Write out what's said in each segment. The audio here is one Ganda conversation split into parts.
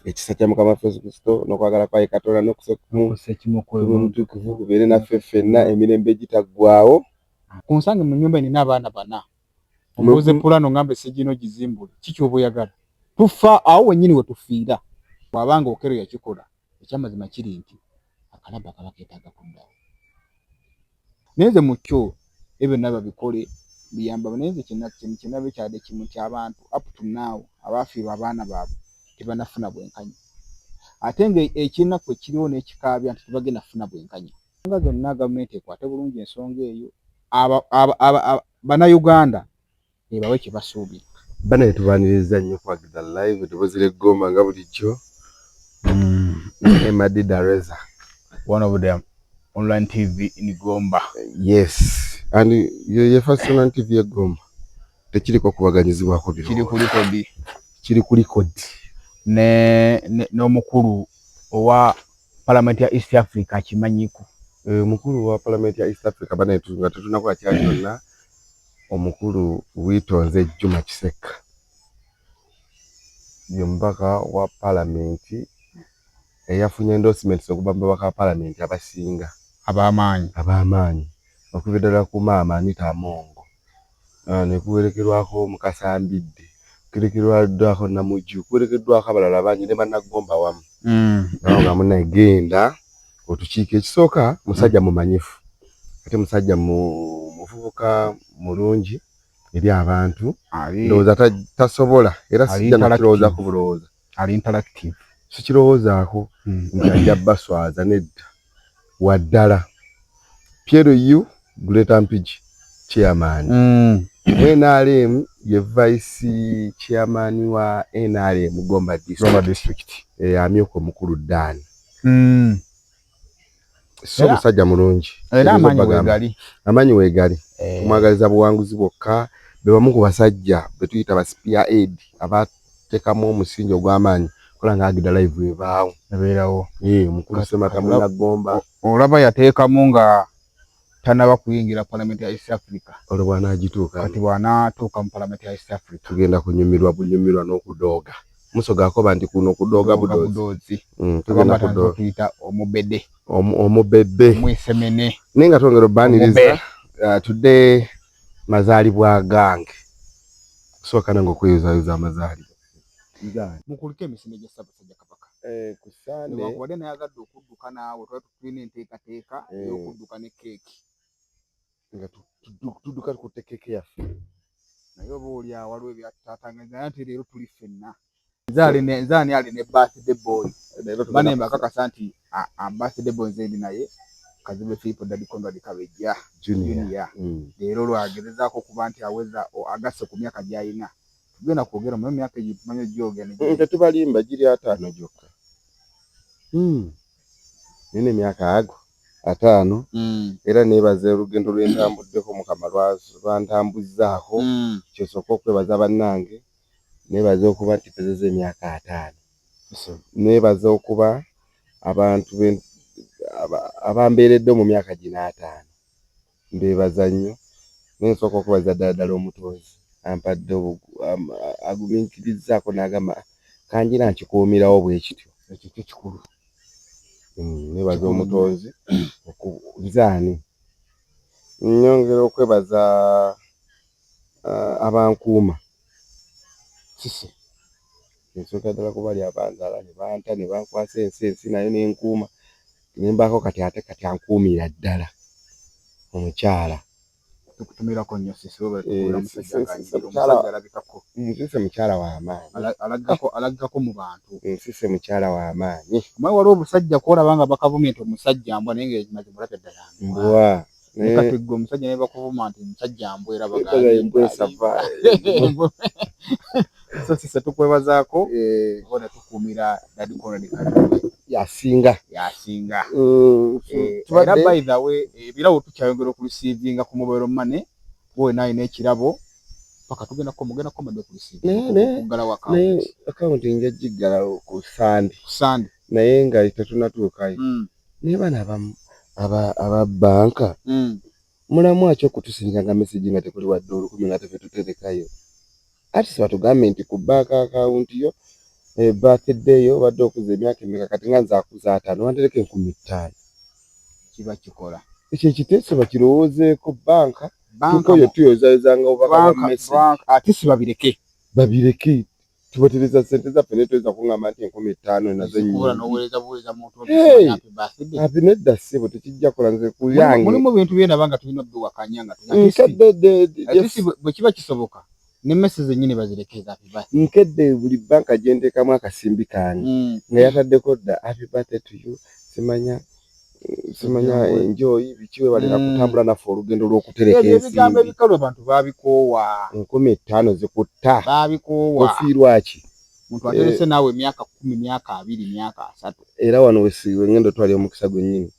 ekisa kya mukama waffe yesu kristo n'okwagala kwaye katonda n'okusekumutukuvu kubeere naffe ffenna emirembe egitaggwawo ku nsange mu nyumba enina abaana bana omubuze pulano ngamba esegino gizimbule kikyoba oyagala tufa awo wenyini wetufiira bwabanga okero yakikola ekyamazima kiri nti akalaba kaba ketaga kuddawo naye nze mukyo ebyo byonna babikole biyambaba naye nze kyenaba ekyade kimu nti abantu up to now abaafiirwa abaana baabwe tebanafuna bwenkanya ate nga ekinaku ekiriwo n'ekikaabya nti tebagenda kufuna bwenkanya nga zonna gavumenti ekwate bulungi ensonga eyo bannayuganda ebawe kye basuubira. Banaye tubaniriza nnyo kwa Gidha Live eddoboozi ly'e Gomba nga bulijjo. Emma Dida Reza. One of them online TV in Gomba. Yes. And ye first online TV ya Gomba. Tekiriko kubaganyizibwako biro. Kiri kuli kodi. Kiri kuli kodi. Ne n'omukulu owa Parliament ya East Africa akimanyiko. Eh, mukulu wa Parliament ya East Africa banaye nga tetunakola kya kyonna. Omukulu Witonze Juma Kisekka ye mubaka wa palamenti eyafunye endorsement okuva mu babaka ba palamenti abasinga ab'amaanyi ab'amaanyi okuva ddala ku maama Anita Amongo ah, ne kuwerekerwako Mukasa Mbidde kuwerekerwaddwako Namuju kuwerekeddwako abalala bangi ne Banaggomba wamu mm. nawo nga munagenda otukiiko ekisooka musajja mumanyifu ate musajja muvubuka mulungi eri abantu ndowooza tasobola era sijja nakirowooza ku bulowooza sikirowoozaako hmm. nti ajja baswaza nedda waddala piero u greater mpigi chairman hmm. nrm ye vice chairman wa nrm gomba district amyuka omukulu dani mm. so musajja mulungi era amanyi wegali amanyi wegali eh. tumwagaliza buwanguzi bwokka bebamu ku basajja betuyita ba spear aid abatekamu omusingi ogw'amaanyi kola nga agida live ebaawo ebeerawo eh, mukulu semata munagomba olaba yateekamu nga tanaba kuyingira palamenti ya East Africa. Olwo bwanagituuka. Kati bwanatuuka mu palamenti ya East Africa. Tugenda kunyumirwa bunyumirwa n'okudooga. Musoga akoba nti kuno kudooga budoozi. Mm, tugenda kudooga. Tuyita omubede. Omubebe. Mwesemene. Naye nga twongera obbaniriza. Uh, today mazaalibwa gange. Kusooka nange okweyuzayuza amazaalibwa. Mukulike emisinde gya Ssaabasajja Kabaka. Eh, ku Sande. Newankubadde nayagadde okudduka naawe twali tulina enteekateeka eh. ey'okudduka ne keeki nga tudduka tukutte keeki yaffe naye oba oli awo waliwo ebyatutaatanganya nti leero tuli ffenna nze ani ali ne birthday boy banemba akakasa nti birthday boy nze ndi naye kazimbe filipo dadi conrad kabejja junior mm. leero lwagezezaako okuba nti aweza agasse ku myaka gyalina tugenda kwogera mu myaka egyo tumanyi ogyogera tetubalimba giri ataano gyokka hmm. nina emyaka ago ataano mm. era nebaza olugendo lwentambuddeko mukama lwantambuzzaako mm. kyosooka okwebaza bannange nebaza okuba nti pezeza emyaka ataano nebaza okuba abantu abambeeredde mu myaka gino ataano mbebaza nnyo naye nsooka okubaza ddala ddala omutonzi ampadde aguminkirizaako n'agamba kangira nkikuumirawo bwe kityo ekyo kyo kikulu hmm, nebaza omutonzi okuzaani nyongera okwebaza ah, abankuuma kise Nsookera ddala ku bali abanzaala ne banta ne bankwasa ensi, ensi nayo n'enkuuma ne mbaako kati ate kati ankuumira ddala omukyala. Tukutumirako nnyo ssisi webale tukubeera musajja nga anyirira omusajja alabikako. Nsise mukyala wa maanyi. Alaggako alaggako mu bantu. Nsise mukyala wa maanyi. Omanyi waliwo obusajja kw'olaba nga bakavumye nti omusajja mbwa naye ng'amazima olabye ddala mbwa. naye kati gwe omusajja naye bakuvuma nti musajja mbwera bagaasosisa tukwebazaako bona tukuumira dadi konrad kaliwe yasinga yasinga mm, eh, era by the way ebirabo tukyayongera okurusiivinga ku mobile money wowe naye n'ekirabo paka tugenda ko mugenda ko made kurusiivinga naye akawunti nja giggalawo ku sande naye nga tetunatuukayo mm. naye bano abamu aba banka hmm. mulamu aki okutusinga nga mesegi nga tekuli wadde olukumi nga tefetuterekayo ati sibatugambye nti ku banka akawunti yo eh, birthday yo obadde okuza emyaka emeka kati nga nzakuza ataano wantereka enkumi ttaano kiba kikola ekyo ekiteeso bakirowoozeeko banka tukoyo tuyozaezanga obubaka bwa mesegi ate sibabireke babireke Tubatereza ssente zaffe naye toyinza kuŋŋamba nti enkumi ttaano nazo nnyingiati nedda ssebo tekijja kola nze kuyangemulimu bintu byendaba nga tulina obiwakanya nga bwe kiba kisoboka nemmese zennyini bazirekeza nkedde buli bbanka gyenteekamu akasimbi kange mm. nga yataddeko dda api bate tuyu simanya simanya enjoy biki webalina mm. kutambula naffe olugendo lwokutereka ebigambo ebikalu abantu babikoowa enkumi ettaano zikutta babikoowa ofiirwaki muntu aterese eh. naawe emyaka kumi myaka abiri myaka asatu era wano wesiwe ngenda otwali omukisa gwennyini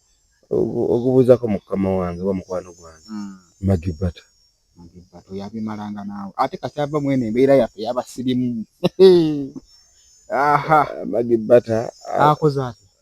ogubuuzako mukama wange oba mukwano gwange mm. magibata magibata oyabimalanga naawe ate kasi ava mwene embeera yaffe yabasirimu magibata akoze ati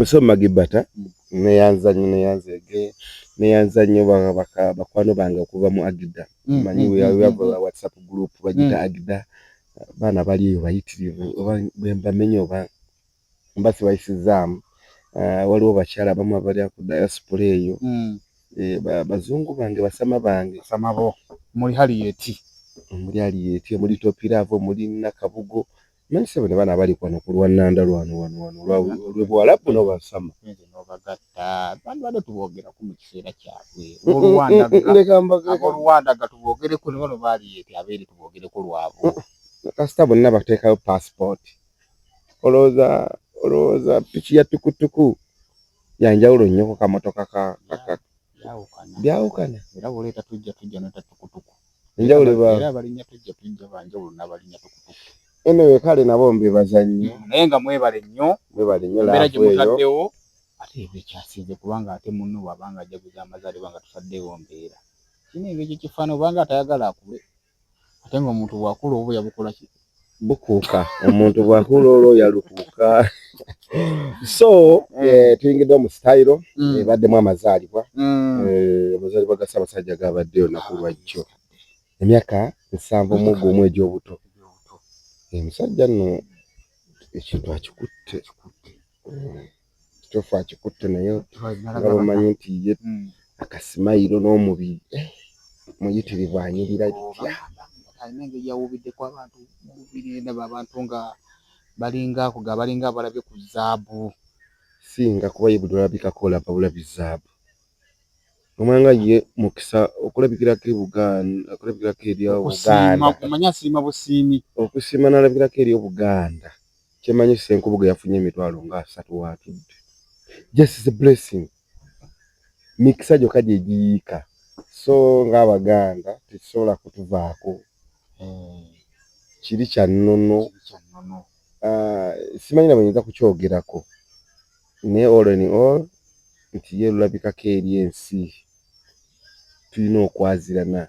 Oso magibata neyanza nyo neyanza ege neyanza nyo bakwano bange okuva mu agida mm, manyi mm, mm, mm. whatsapp group bagita mm. agida baana bali eyo bayitirivu oba bwembamenya oba mba sibayisizaamu uh, waliwo bakyala abamu abali ku diaspora eyo mm. e, ba, bazungu bange basama bange basama bo muli hali yeti muli hali yeti muli topiravo muli nakabugo Mani sebo ne bana abali kwano ku lwannanda lwano wano wano lwe Buwalabu n'obasama. N'obagatta bandibadde tuboogerako mu kiseera kyabwe ab'oluwanda ga tuboogereko ne bano baali eti abeere tuboogereko lwabo. Kasita bonna bateekayo paasipooti olowooza olowooza piki ya tukutuku yanjawulo nnyo ku kamotoka ka byawukana era bwoleeta tujja tujja nota tukutuku enjawulo era abalinya tujja tujja banjawulo n'abalinya tukutuku eno wekale nabo mbebaza nnyo mm, naye nga mwebale nnyo mwebale nnyo laera gye mutaddewo ate ebyo ekyasinze kubanga ate munno bwabanga ajaguza amazaalibwa nga tutaddewo mbeera kino ebyo ekyo kifaana obanga atayagala akule ate nga omuntu bwakula oba yabukola ki bukuuka omuntu bwakula olwo yalukuuka so mm. eh, tuyingidde mu sitayiro mm. ebaddemu amazaalibwa mm. eh, amazaalibwa ga ssaabasajja gabadde olunaku lwajjo emyaka nsanvu mu gumu egy'obuto omusajja eh, nno ekintu akikutte kitofu akikutte naye nga bamanyi nti ye hmm. akasimayiro n'omubiri eh, muyitirivu anyirira bitya alina engeri yawubiddeko abantu mubiri ndaba abantu nga balinga kuga balinga abalabye ku zaabu singa kuba ye buli olabikako olaba bulabi zaabu omwanga ye mukisa okulabikirako ebuganda okulabikirako eri obuganda okusiima nalabikirako eri obuganda Kyemanyi Ssenkubuge yafunye emitwalo nga asatu watudde. Just is a blessing. Mikisa gyokka gye giyiika. So ng'Abaganda tekisobola kutuvaako. Hmm. Kiri kya nnono. Ah, simanyi na bwenyinza kukyogerako. Naye all in all nti ye lulabikako eri ensi. Tulina okwazirana.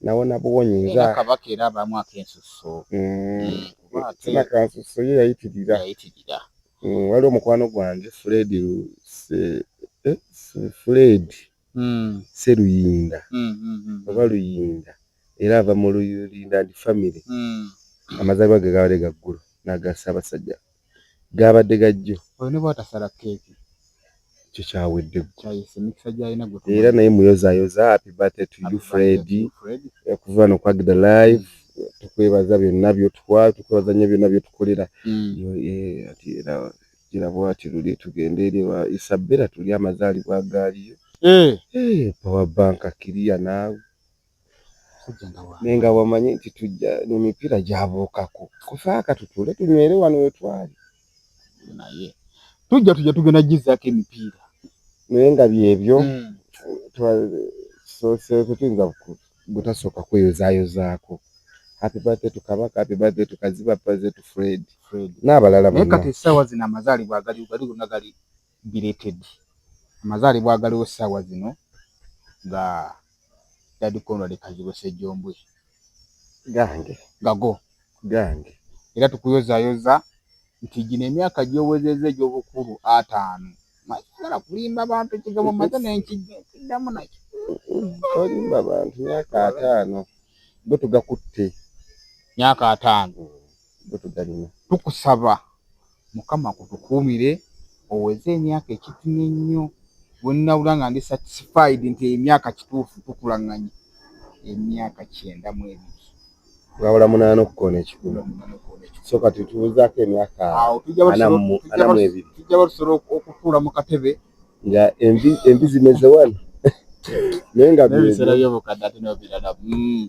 nawona buwonyi nza kabaka era abamu akensusso sina kansusso ye yayitirira mm, waliwo mukwano gwange fred eh, fred mm. seruyinda mm, oba luyinda era ava mu luyinda ndi famiry amazalibwa ge gabadde gaggulo nagasabasajja gaabadde gajjo oyo ne bwatasala keeki kyo kyawedde era naye muyozayoza happy birthday to you fred okuva no kwagida live tukwebaza byonna byotuwa tukwebaza nnyo byonna byotukolera era gira bwati luli tugende eri wa isabela tuli amazaalibwa gaaliyo power bank kiriya naawe naye nga wamanyi nti tujja nemipiira gyabuukako kufaaka tutule tunywere wano wetwali naye tujja tujja tugenda gizaako emipiira naye nga byebyo hmm. tetuyinza butasooka kweyozayozaako happy birthday to kabaka happy birthday to kaziba birthday to fred n'abalala bonna kati essaawa zino amazaalibwa agali gali gonna gali belated amazaalibwa agaliwo essaawa zino nga Dad Conrad Kazibwe Ssejjombwe. Gange. Gago. Gange. Era tukuyozaayoza nti gino emyaka gy'owezezza egy'obukulu ataano masagala kulimba bantu ekigambo maze nenkiddamu nakyo. Tolimba bantu myaka ataano go tugakutte. Myaka ataano. Mm. tukusaba mukama kutukuumire oweze emyaka ekitini ennyo wenawula nga ndi satisfied nti emyaka kituufu tukulanganye emyaka kyenda mu ebiri wabula munaana okukoona ekikulu so kati tubuzaako emyaka anamu ebiri tujja batusobola okutuula mu katebe nga embi zimeze wano naye nga byebiseera byobukadde ate nobiralamu hmm.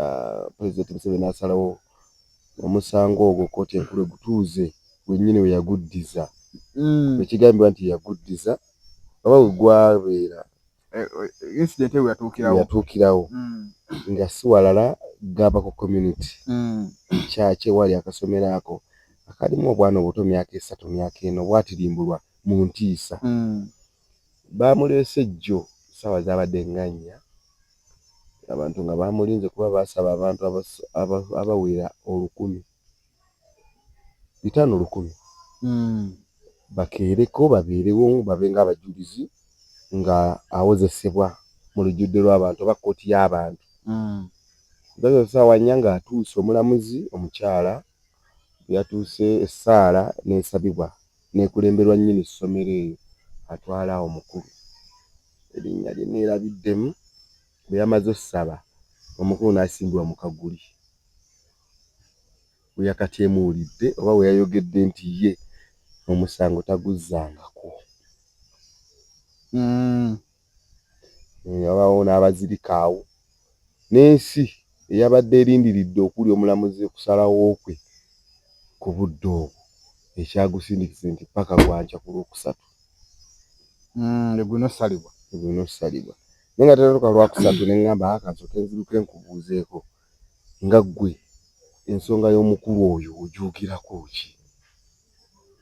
ah, pulezidenti museveni asalawo omusango ogwo kkooti enkulu egutuuze wennyini we yaguddiza mm. ekigambibwa nti yaguddiza oba we gwabeera eh, eh, incident eyo yatuukirawo mm. nga si walala gamba ku community mm. kyaki ewali akasomero ako akalimu obwana obuto myaka esatu myaka eno bwatirimbulwa mu ntiisa Baamuleese jjo ssaawa zaabadde nga nnya abantu nga bamulinze kuba baasaba abantu abawera olukumi bitaano lukumi hmm. bakeereko babeerewo babe ng'abajulizi nga awozesebwa mu lujjudde lw'abantu oba kkooti y'abantu hmm. ssaawa nnya ng'atuuse omulamuzi omukyala yatuuse essaala n'esabibwa n'ekulemberwa nnyini ssomero eyo atwala omukulu erinnya lye nneerabiddemu. Bwe yamaze ossaba omukulu n'asimbibwa mu kaguli we yakateemuulidde oba we yayogedde nti ye omusango taguzzangako. Wabaawo n'abazirika awo n'ensi eyabadde erindiridde okuli omulamuzi okusalawo kwe ku budde obwo ekyagusindikize nti ppaka gwa nkya ku Lwokusatu lwe mm, gulina okusalibwa lwe gulina okusalibwa naye nga tenatuka lwakusatu ne ŋŋamba aka nsooke nziruke nkubuuzeeko nga ggwe ensonga y'omukulu oyo ogyogirako ki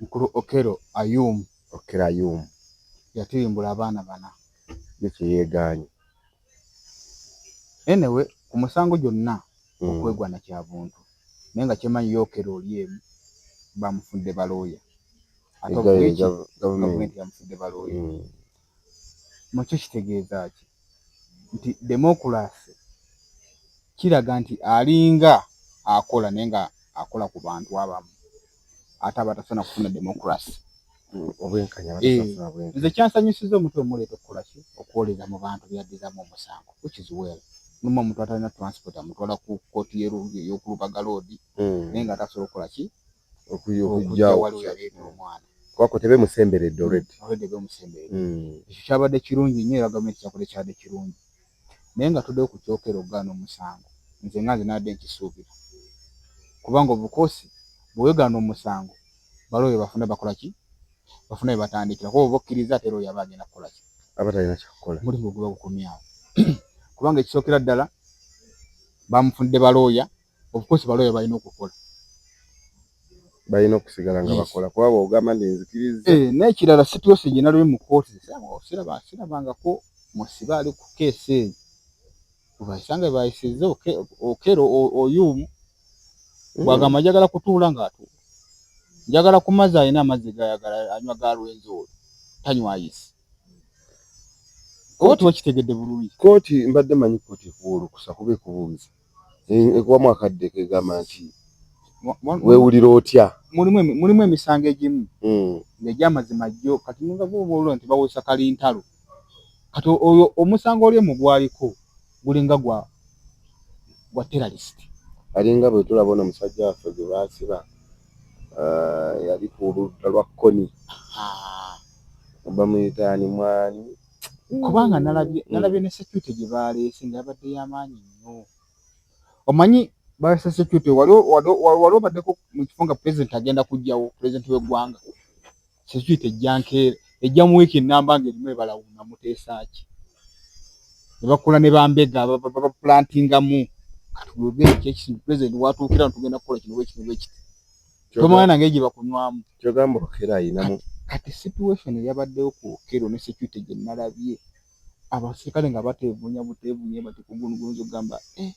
Mukulu Okello Ayum. Okello Ayum. Yatuyimbula abaana bana. Ye kye yeegaanyi. Enewe ku musango gyonna hmm. okwegwana kya buntu naye nga kyemanyi ye Okello oli emu bamufudde balooya. Ate gavumenti yamufudde balooya. Hmm. mu kyo kitegeeza ki? Nti demokulaase kiraga nti alinga akola naye nga akola ku bantu abamu ate aba tasaana kufuna demokulaase. Eh, nze kyansanyusiza omuntu omuleeta okukola ki okwoleza mu bantu byaddizamu omusango which is well numa omuntu atalina transport amutwala ku kooti eyokulubaga loodi hmm. naye nga atasobola okukola ki okujja wali yaleeta omwana kuba kwe tebemusemberedde mm, already already bemusemberedde mm. ekyo kyabadde kirungi nnyo era gavumenti kyakola ekyabadde kirungi naye nga tuddeyo ku kyokera okugaana omusango nze nga nze nadde nkisuubira kubanga obukosi bwewegaana omusango balo bye bafuna bakola ki bafuna bye batandikira kuba oba okkiriza ate era oyaba agenda kukola ki aba talina kyakukola mulimu oguba gukomyawo kubanga ekisookera ddala bamufunidde balooya of course baloya balina okukola balina okusigala nga bakola kuba bwogamba nti nzikiriza eh, n'ekirala situyose gye naliwe mu kooti sirabangako musibe ali ku keesi eyo obaisanga baisiza okero oyumu mm. bwagamba njagala kutuula ng'atuula njagala ku mazzi alina amazzi gayagala anywa ga lwenzi oyo tanywa ayisi oba tuba kitegedde bulungi kooti mbadde manyi kooti ekuwa olukusa kuba ekubuuza ekubamu akadde kegamba nti wewulira otya mulimu emisango egimu hmm. negyamazima jjo kati nungagobaolo nti bawesa kalintalo kati oyo omusango oli mugwaliko gulinga gwa gwa terrorist alinga bwe tulaba ono musajja waffe gwe baasiba eh, yali ku ludda lwa kkoni bamuyitaani mwani kubanga nalabye mm. nalabye ne security gye baaleese nga yabadde y'amaanyi nnyo omanyi baleese security wali obaddeko mu kifo nga president agenda kujjawo president w'eggwanga security ejja nkeera ejja mu wiiki ennamba nga erimu ebalawuna muteesaaki ne bakola ne bambega baplantingamu kati bwogere kyekisinga president watuukira ntugenda kukola kino bwekino bwekiti tomanya nange gye bakunywamu kyogamba okera ayinamu kati situation eyabaddewo ku okero ne security gye nalabye abasirikale nga bateevunya buteevunya bati kugunugunza okugamba eh.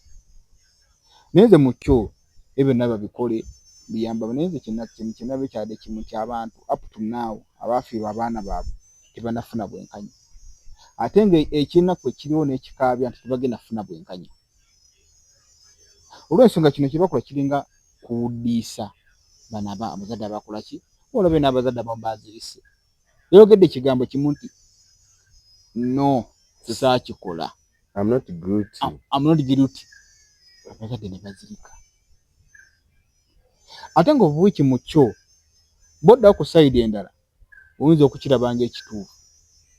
naye nze mukyo ebyo naba bikole biyamba naye nze kyenaba ekyade kimu kyabantu up to now abaafiirwa abaana baabwe tebanafuna bwenkanya ate nga ekyenaku ekiriwo n'ekikaabya nti tebagenda funa bwenkanya olwensonga kino kyebakola kiringa kuwuddiisa bana ba abazadde abakola ki olabe n'abazadde abamu bazirise yayogedde ekigambo kimu nti no sisaakikola amnotgiruti abazadde ne bazirika ate nga obuwiki mu kyo boddawo ku sayidi endala oyinza okukiraba ng'ekituufu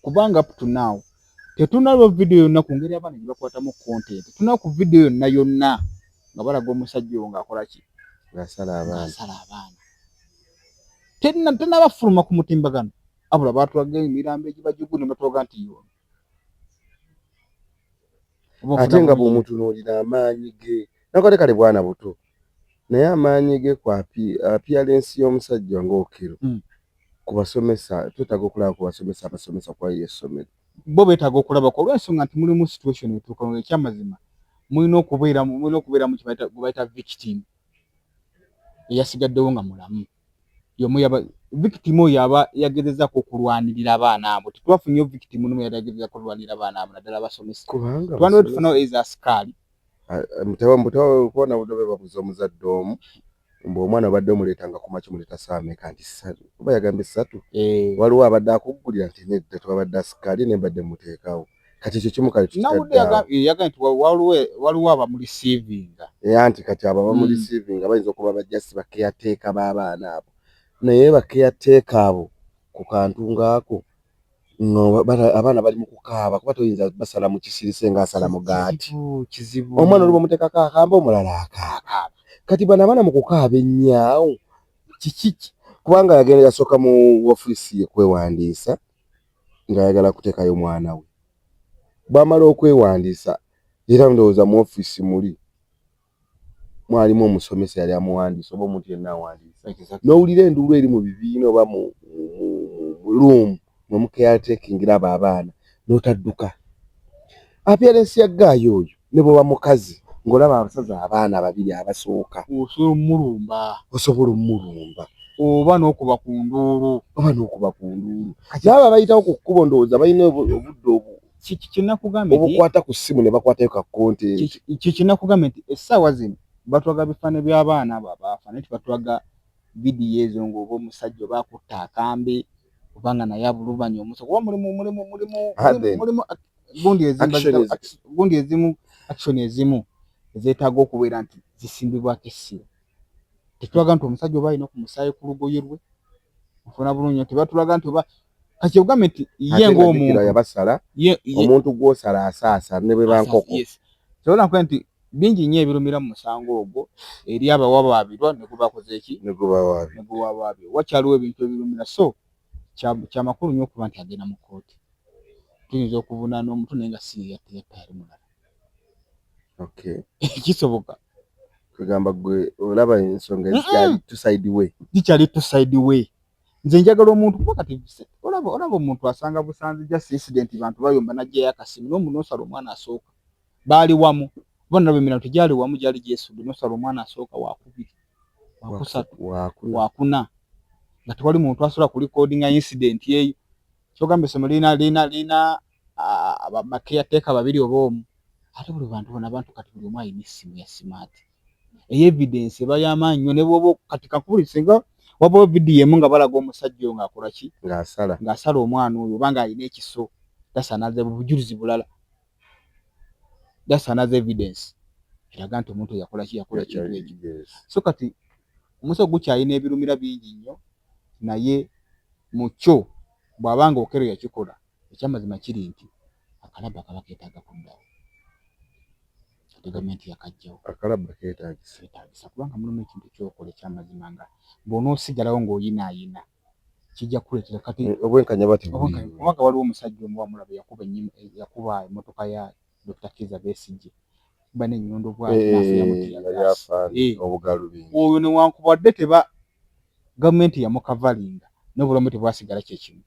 kubanga up to now tetunalaba vidiyo yonna ku ngeri abaana gye bakwatamu content tunaa ku vidiyo yonna yonna nga balaga omusajja oyo ng'akola ki asala abaana tenabafuluma ku mutimbagano abula batulaga emirambo egibajugu ne batulaga nti yono ate nga bw'omutunuulira amaanyi ge nakale kale bwana buto naye amaanyi ge ku apiyalensi y'omusajja ng'Okello hmm. ku basomesa twetaaga okulaba ku basomesa abasomesa ku ayo essomero bo beetaaga okulaba ku olw'ensonga nti mulimu situation etuuka nga ekyamazima mulina okubeera mulina okubeeramu gwe bayita victim eyasigaddewo nga mulamu yomu yaba victim oyo aba yagezezako okulwanirira abaana abo tetwafunyeyo victim nomu yali agezezako olwanirira abaana abo naddala abasomesa twandiba tufunawo eza asikaali mutawamutewakubonabudobebabuza omuzadde omu mbu omwana obadde omuleeta nga kumaki muleeta saameka nti satu oba yagambye satu eh. waliwo abadde akuggulira nti nedda tewabadde asikaali nembadde muteekawo kati ekyo kimu kale waliwo abamulisiivinga anti kati abo abamulisiivinga hmm. bayinza okuba bajasi bakeyateeka b'abaana abo naye bakeyateeka abo ku kantu ng'ako abaana bali mu kukaaba kuba toyinza basala mu kisirise ng'asala mugaati omwana oli bamuteekako akamba omulala akaaka kati bano abaana mu kukaaba ennyaawo kiki kubanga yagenda yasooka mu ofiisi ye kwewandiisa ng'ayagala kuteekayo mwana we. Bw'amala okwewandiisa era ndowooza mu ofiisi muli mwalimu omusomesa eyali amuwandiisa oba omuntu yenna awandiisa, n'owulira enduulu eri mu bibiina oba mu luumu mwe mukeyateekingira abo abaana n'otadduka. Apiyarensi ya ggaayi oyo ne bwoba mukazi ng'olaba abasaza abaana babiri abasooka osobola omulumba osobola omulumba oba n'okuba ku nduulu oba n'okuba ku nduulu kati abo abayitawo ku kkubo ndowooza balina obudde obu kyekinakugambye obukwata ku ssimu ne bakwatayo ka kontenti kyekinakugambye nti essaawa zino batwaga bifaane by'abaana abo abaafa naye tibatwaga vidiyo ezo ng'oba omusajja oba akutta akambe oba nga naye abulubanya omusa kuba mulimu mulimu mulimu mulimu gundi ezimba gundi ezimu action ezimu ezetaaga okubeera nti zisimbibwako essira tetulaga nti omusajja oba alina ku musaayi ku lugoye lwe nfuna bulungi nti batulaga nti oba kati ogambye nti ye ngaomuntu yabasala omuntu gwosala asaasa ne bwe bankoko kyola nkuba nti bingi nnyo ebirumira mu musango ogwo eri abawabaabirwa ne gubakoze eki ne guwawaabirwa wakyaliwo ebintu ebirumira so kyamakulu nyo okuba nti agenda mu kooti tuyinza okuvunana omutu naye nga si yeyatta yali mulala kisoboka kwegamba gwe olaba ensonga ezikyali tuside way zikyali tuside way nze njagala omuntu kuba kati olaba olaba omuntu asanga busanzi just incident bantu bayomba najjayo akasimu nomunosala omwana asooka baali wamu kuba nalaba emirala tegyali wamu gyali gyesudde nosala omwana asooka wakubiri wakusatu wakuna nga tewali muntu asobola ku recordinga incident eyo kyogamba essomero lina lina lina bakeyateeka babiri oba omu ate buli bantu bona abantu kati buli omu alina essimu ya simaati eyo evidence eba yamaanyi nyo nebwoba kati kakubuli singa wabawo vidiyo emu nga balaga omusajja oyo ngaakolaki ngaasala omwana oyo oba nga alina ekiso tasanaaza bujulizi bulala that's another evidence eraga nti omuntu yakola ki yakola kintu ekyo so kati omusawo gukyalina ebirumira bingi nnyo naye mu kyo bw'aba nga okero yakikola ekyamazima kiri nti akalabba kaba keetaaga kuddawo ate gavumenti yakajjawo akalabba keetaagisa kubanga mulimu ekintu kyokola ekyamazima nga bw'onoosigalawo ng'oyinaayina kijja kukuleetera kati eh, obwenkanya bati kubanga waliwo omusajja omu wamulaba yakuba ennyima eh, yakuba emmotoka ya Dr. Kiza Besigye bana ennyondo bwaoyo newankubadde teba gavumenti yamukavalinga n'obulamu tebwasigala kyekimu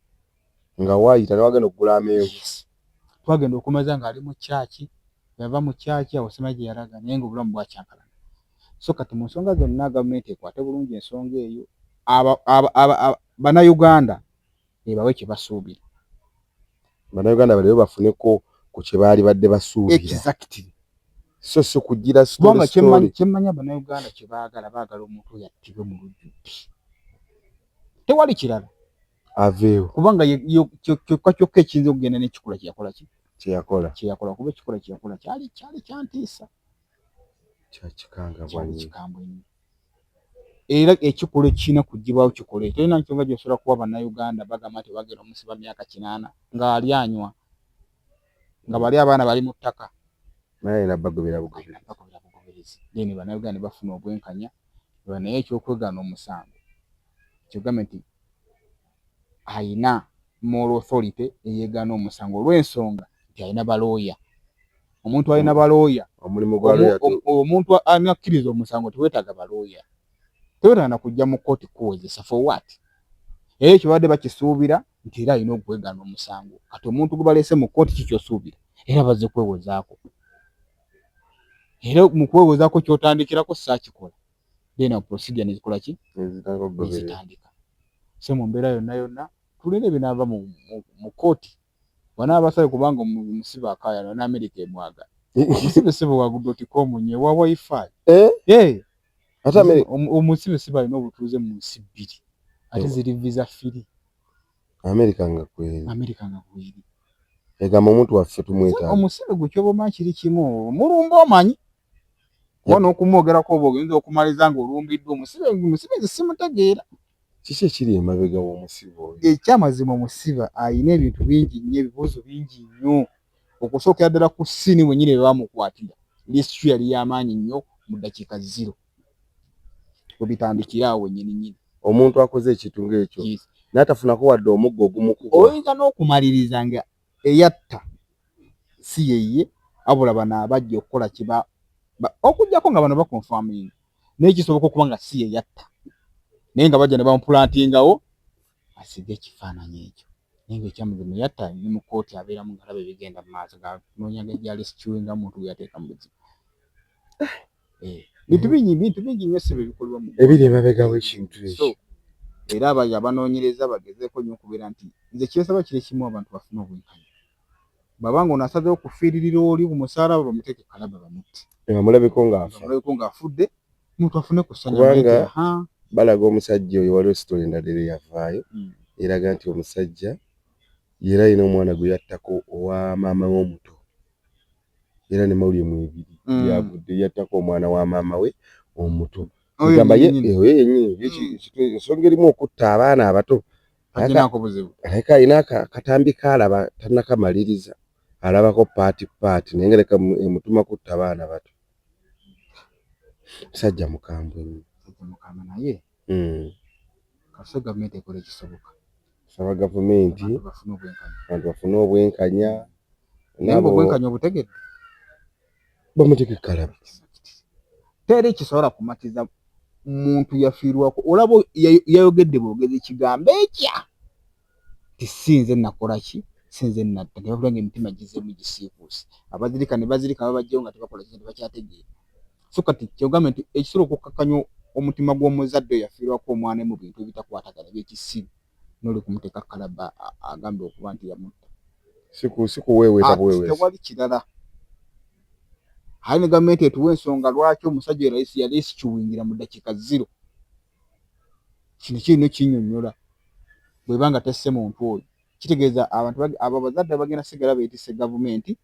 nga waayita ne wagenda okugula amenvu yes twagenda okumaza ng'ali mu kyaki yava mu kyaki awo sema gye yalaga naye ng'obulamu bwakyankalana so kati mu nsonga zonna gavumenti ekwate bulungi ensonga eyo bannayuganda ebawe kye basuubira bannayuganda balero bafuneko ku kye baali badde basuubira so si kugira kubanga kyemmanya bannayuganda kye baagala baagala omuntu oyo attibwe mu lujjudde tewali kirala aveewo kubanga kyokka kyokka ekiyinza okugenda nekikula kyeyakola ki kyeyakola kyeyakola kuba ekikula kyeyakola kyali kyali kyantiisa kyakikangabwa kikambwe nnyo era ekikula ekirina kugibwawo kikole tolina nkyonga gyosobola kuwa bannayuganda bagamba nti bagenda omusiba myaka kinaana ng'ali anywa nga bali abaana bali mu ttaka naye era bagobera bugoberezi then bannayuganda ne bafuna obwenkanya naye ekyokwegaana omusango kyogambe nti alina moral authority eyegaana omusango olw'ensonga nti alina balooya. Omuntu alina balooya, omuntu alina akkiriza omusango tewetaaga balooya, tewetaaga na kujja mu kkooti kuwozesa for what? Era ekyo babadde bakisuubira nti era alina okwegaana omusango. Kati omuntu gwe baleese mu kkooti ki kyosuubira? Era bazze kwewozaako. Era mu kwewozaako kyotandikirako saakikola. then a procedure nezikola ki nezitandika so mu mbeera yonna yonna tulina ebinaava mu, mu, mu kooti banaaba basabe kubanga omusibe akaayana ne amerika emwaga omusibe sibe wagudotikomnye wa wifi eh? Eh. omusibe sibe alina obutuuze mu nsi bbiri ate eh. ziri visa firi amerika nga kweri amerika nga kweri egamba omuntu waffe tumwetaaga omusibe gwe kyoba omanyi kiri kimu mulumba omanyi wano okumwogerako oba ogenza okumaliza nga olumbiddwa omusibe omusibe nze simutegeera kiki ekiri emabega w'omusibe oyo ekyamazima omusibe alina ebintu bingi nnyo ebibuuzo bingi nnyo okusookera ddala ku siini wenyini bebamukwatira lisitri yali y'amaanyi nnyo mu ddakiika ziro webitandikira awo wenyininyini omuntu akoze ekintu ng'ekyo n'atafunako wadde omuggo ogumukuba oyinza n'okumaliriza nga eyatta si yeye abula bano abajja okukola kiba okujjako nga bano bakonfaminga naye kisoboka okuba nga si yeyatta naye nga bajja ne bamupulantingawo asige ekifaananyi ekyo naye nga ekyamazima eyatta ni mu kooti abeeramu ngalaba ebigenda mu maaso ganoonya gajali sikiwe nga muntu gweyateeka mu buzibu eh. bintu bingi bintu bingi nnyo sebe bikolebwa mu ebiri emabega w'ekintu ekyo era abayo abanoonyereza bagezeeko nnyo okubeera nti nze kyensaba kiri kimu abantu bafune obwenkanya bwaba nga ono asazewo okufiiririra oli ku musaala bwe bamuteeke kalaba bamutte amulabeko ng'aamulabeko ng'afudde omuntu afune ku ssanya kubanga balaga omusajja oyo waliwo sitole endala era eyavaayo hmm. eraga nti omusajja era alina omwana gwe yattako owa maama w'omuto era ne mawulire mwebiri mm. yagudde yattako omwana wa maama we omuto egamba ye yenyini mm. ensonga erimu okutta abaana abato aleka alina akatambi kaalaba tanakamaliriza alabako paati paati naye nga leka emutuma kutta abaana bato musajja mukambwe naye hmm. kasita gavumenti ekola ekisoboka saba gavumenti abantu bafune obwenkanya naye obwenkanya obutegedde bamuteke kalaba teri kisobola kumatiza muntu yafiirwako olaba yayogedde bwogezi kigambo ekya nti si nze nakola ki si nze natta ne babula ng'emitima gizzeemu gisiikuuse abazirika ne bazirika babajjayo nga tebakola ki nga tebakyategeera so kati kyogambe nti ekisobola okukkakkanya omutima gw'omuzadde oyo afiirwako omwana mu bintu ebitakwatagana eby'ekisiru n'oli kumuteeka kalaba agambe okuba nti yamutta sikuweeweeta ah, buweeweeta tewali kirala aye ne gavumenti etuwa ensonga lwaki omusajja oyo yali sikiwingira mu ddakiika ziro kino kirina ekinyonyola bweba nga tesse muntu oyo kitegeeza abantu abo abazadde bagenda sigala betise gavumenti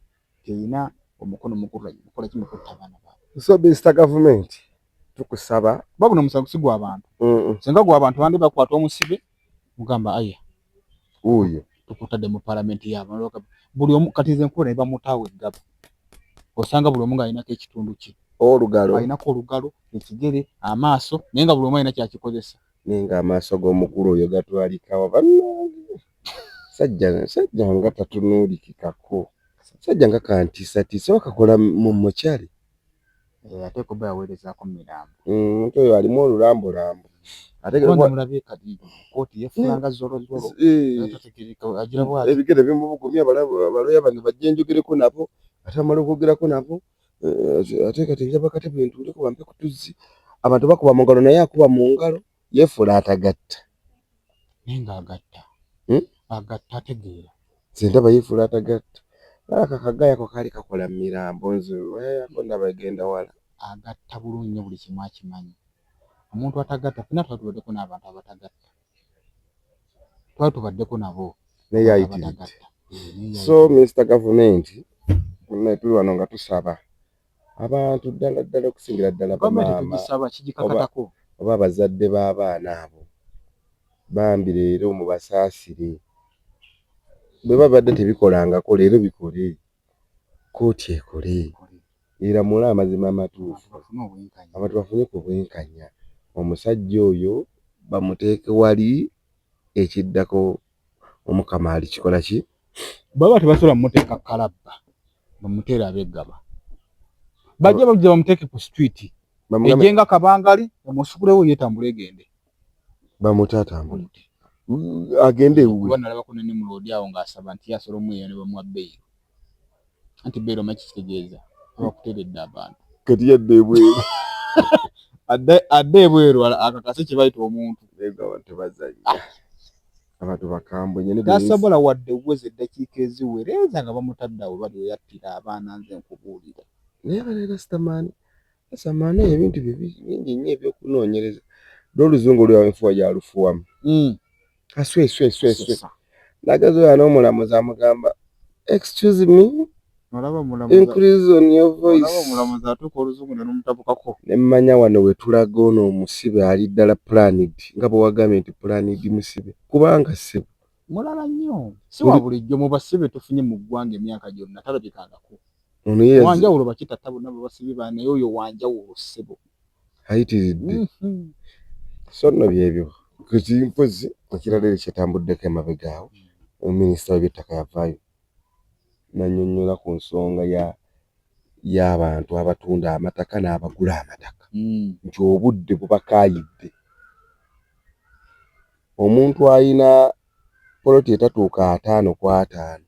terina omukono mukukola ki mukutta abaana baabwe so Mr. gavumenti tukusaba babuno omusango sigwa abantu senga gwa abantu bandi bakwata omusibe mugamba aya Uyo. Tukutade mu parliament ya maloka. Buli omu kati ze nkubona iba mutawe gaba. Osanga buli omu ngayina ke kitundu ki. Olugalo. Ayina ko olugalo, ekigere, amaso, nenga buli omu ayina kya kikozesa. Nenga amaso go mukuru oyo gatwalika wa banange. Sajja sajja nga tatunuliki kako. Sajja nga kantisa tisa wakakola mu mochari. Eh, ate kuba yaweerezako mirambo mm, nti oyo alimu olulambulambu ebigere bimubugumya abaloya bano bajja enjogereko nabo ate bamala okwogerako nabo eh, ate kati njaba katebe ntuuleko bampe kutuzzi abantu bakuba mungalo naye akuba mungalo yefuula atagatta naye nga agatta hmm? agatta ategeera nze ndaba yefuula atagatta alaka kagayako kaali kakola mu mirambo nze wayayako ndaba egenda wala agatta bulungi nyo buli kimu akimanyi omuntu atagatta fena twali tubaddeko n'abantu abatagatta twali tubaddeko nabo naye ayitiridde so minisita gavumenti naye tuli wano nga tusaba abantu ddala ddala okusingira ddala bamaama oba abazadde b'abaana abo bambi leero mubasaasire bwe babadde tebikolangako leero bikole kkooti ekole eramule amazima amatuufu abantu bafune ku bwenkanya omusajja oyo bamuteeke wali ekiddako omukama ali kikola ki baba tebasobola mumuteeka kalabba bamuteera abegaba bajja bajja bamuteeke ku street ejenga kabangali bamusukulewo yetambula egende bamute atambule agende ewuwe kuba nalabako ne muloodi awo ng'asaba nti asola omweyo ne bamuwa beyiro anti beera omaki kitegeeza abakuteredde abantu kati yadde ebweru adde ebweru akakase kyebayita omuntu abantu bakambwe nyo tasobola wadde okuweza eddakiika eziwereeza nga bamutaddawo bali weyattira abaana nze nkubuulira naye banaera sitamaani sitamaani eyo ebintu bye bingi nnyo ebyokunoonyereza lwoluzungu lwewaenfuwa yalufuwamu hmm. kasweswesweswe nagezi oyo n'omulamuzi amugamba excuse me nemmanya wano wetulaga ono omusibe ali ddala planid nga bwewagambye nti planid musibe kubanga sibu mulala nnyo siwa bulijjo mu basibe tufunye mu ggwanga emyaka gyonna talabikangako wanjawulo bakitatta bonna babasibye ba naye oyo wanjawulo ssebo ayitiridde mhm. so nno byebyo kizimpozi ekirala eri kyetambuddeko emabega awo omuminisita webyettaka yavaayo nanyonyola ku nsonga ya y'abantu abatunda amataka n'abagula amataka mm. nti obudde bubakaayidde omuntu ayina poloti etatuuka ataano ku ataano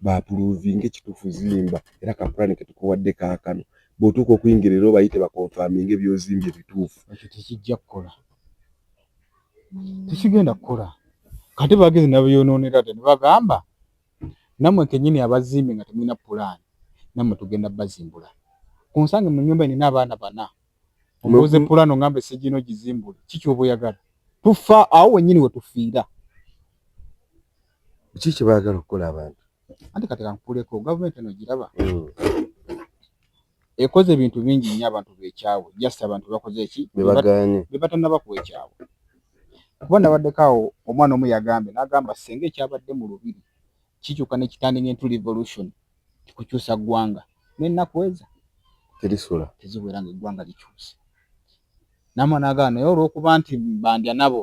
baapuruuvinge kituufu zimba era ka pulaani ke tukuwadde kaakano bw'otuuka okuyingira era obayite bakonfaminge by'ozimbye bituufu. Ekyo tekijja kukola, tekigenda kukola. Kati bagezi nabeyonoonera dda ne bagamba nammwe kennyini abazimbi nga temulina pulaani nammwe tugenda bazimbula ku nsange mu nnyumba nina abaana bana omubuze pulaani ongamba essigino gizimbule kiki oba oyagala tufa awo wennyini we tufiira. Ki kye baagala okukola abantu? Anti kati kankuleko gavumenti eno giraba hmm. ekoze ebintu bingi nnyo abantu bekyawe just abantu bakoze eki bebatanaba kuwa ekyawe kuba nabaddeko awo omwana omu yagambye nagamba senga ekyabadde mu lubiri kikyuka nekitandinga entu revolution tikukyusa ggwanga nenaku eza terisula teziwera nga eggwanga likyuse namwana agamba naye olwokuba nti bandya nabo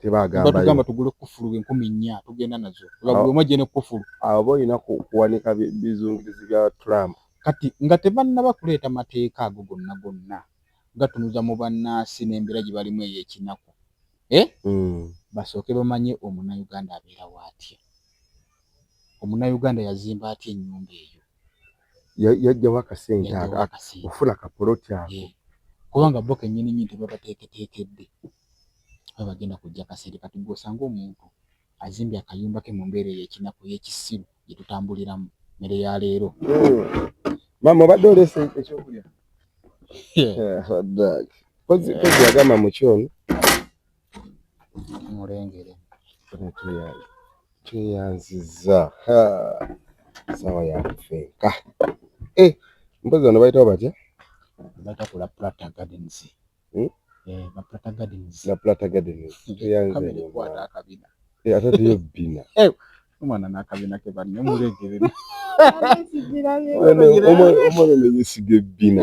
tebagamba tugule kufulu enkumi nnya tugenda nazo olabuluma gye ne kufulu abo balina kuwanika bizungirizi bya trump kati nga tebannaba kuleeta mateeka ago gonna gonna gatunuza mu bannansi n'embeera gye balimu ey'ekinaku e eh? hmm. basooke bamanye omunauganda abeera waatya omunauganda yazimba atya ennyumba eyo yajjawo akasente okufuna kapoloti ako kubanga bo kenyini nyini tebabateeketeekedde oba bagenda kujja kasente kati gwe osanga omuntu azimbye akayumba ke mu mbeera ey'ekinaku ey'ekisiru gye tutambuliramu mmere ya leero maama obadde oleese ekyokulya agamba mukyono mulengere tweyanziza sawa yakufenka eh, mpozi bano bayitawo batya baita kula plata gardens hmm? eh, baplata gardens baplata gardens tweyanzikwata akabina eh, ate tuyo bina omwana nakabina ke banne mulegerera omwana omuyesiga ebbina